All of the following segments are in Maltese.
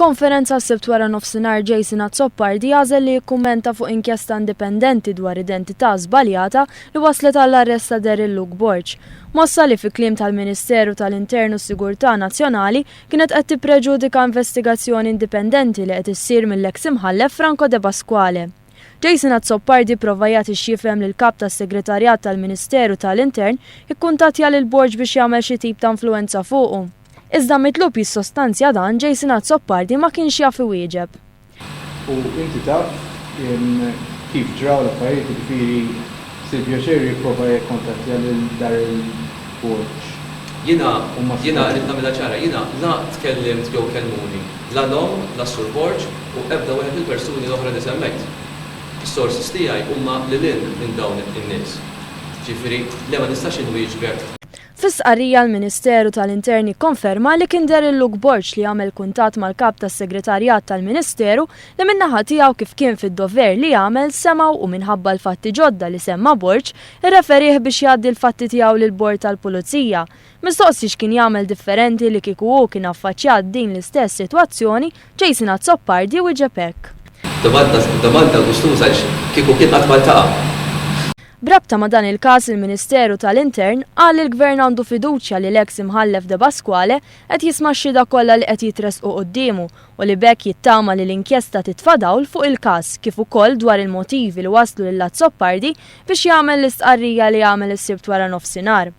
F'konferenza s-Sibt wara nofsinhar Jason Azzopardi għażel li jikkummenta fuq inkjesta indipendenti dwar identità żbaljata li wasslet għall-arrest ta' Daryl Luke Borg. Mossa li fi kliem tal-Ministeru tal-Intern u s-Sigurtà Nazzjonali kienet qed tippreġudika investigazzjoni indipendenti li qed issir mill-eks Imħallef Franco Depasquale. Jason Azzopardi pprova jagħti x'jifhem li l-Kap tas-Segretarjat tal-Ministeru ta' l-Intern ikkuntattja lil Borg biex jagħmel xi tip ta' influwenza fuqu. Iżda mitlub jissostanzja dan Jason Azzopardi ma kienx jaf iwieġeb. U inti taf kif ġraw l-affarijiet jiġifieri. Ksib pjaċir jipprova jikkuntattja lil Darryl Borg. Jiena, jiena, irrid nagħmilha ċara, jiena la tkellimt jew kellmuni la l-omm, la s-Sur Borg u ebda wieħed mill-persuni l-oħra li semmejt. Is-sources tiegħi huma lil hinn minn dawn in-nies. Ġifieri, le ma nistax inwieġbek. Fi stqarrija l-Ministeru tal-Intern ikkonferma li kien deher lil Luke Borg li għamel kuntatt mal-Kap tas-Segretarjat tal-Ministeru li min-naħa tiegħu kif kien fid-dover li għamel semgħu u minħabba l-fatti ġodda li semma Borg irreferih biex jgħaddi l-fatti tiegħu lill-Bord tal-Pulizija. Mistoqsi x'kien jagħmel differenti li kieku hu kien affaċċjat din l-istess sitwazzjoni, Jason Azzopardi wieġeb hekk. Domanda biex tuża għax kieku kien qatt ma ltaqa'. B'rabta ma' dan il-każ il-Ministeru ta' l-Intern qal li l-Gvern għandu fiduċja li l-eks Imħallef Depasquale qed jisma' x-xhieda kollha li qed jitressqu quddiemu u li b'hekk jittama li l-inkjesta titfa' dawl fuq il-każ kif ukoll dwar il-motivi li wasslu lil Azzopardi biex jagħmel l-istqarrija li għamel is-Sibt waranofsinhar.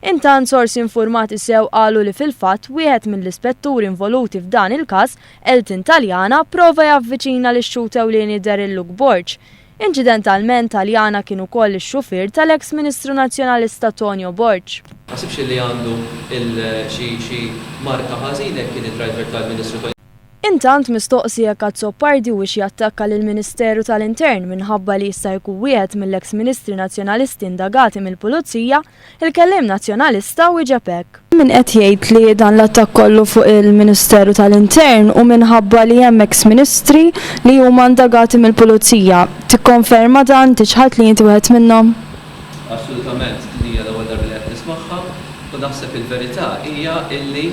Intant sorsi infurmati sew qalu li fil-fatt wieħed mill-ispetturi involuti f'dan il-każ, Elton Taliana, prova javviċina lix-xhud ewlieni Daryl Luke Borg. Inċidentalment Taliana kien ukoll ix-xufier tal-eks Ministru Nazzjonalista Tonio Borg. Taħsibx li għandu xi marka ħażin hekk kien id-driver tal-Ministru Tonio? Intant, mistoqsi jekk Azzopardi huwiex jattakka lill-Ministeru tal-Intern minħabba li jista' jkun wieħed mill-eks Ministri Nazzjonalisti indagati mill-Pulizija, il-kelliem Nazzjonalista wieġeb hekk. Hemm min qed jgħid li dan l-attakk kollu fuq il-Ministeru tal-Intern hu minħabba li hemm eks Ministri li huma indagati mill-Pulizija. Tikkonferma dan, inti ċħadt li inti wieħed minnhom? Assolutament, din hija l-ewwel darba li qed nismagħha u naħseb il-verità hija illi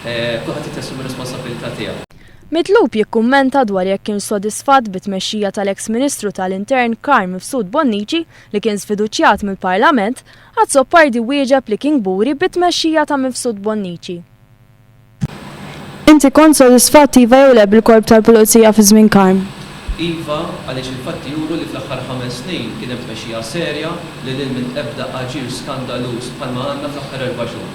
Kulħadd irid jassumi r-responsabbiltà tiegħu. Mitlub jikkummenta dwar jekk kienx sodisfatt bit-tmexxija tal-eks Ministru tal-Intern Karl Mifsud Bonnici li kien żfiduċjat mill-Parlament, Azzopardi wieġeb li kien kburi bit-tmexxija ta' Mifsud Bonnici. Inti kont sodisfatt iva jew le bil-Korp tal-Pulizija fi żmien Karm? Iva, għaliex il-fatti juru li fl-aħħar ħames snin kien hemm tmexxija serja li lil minn ebda aġir skandaluż bħalma għandna fl-aħħar erba' xhur.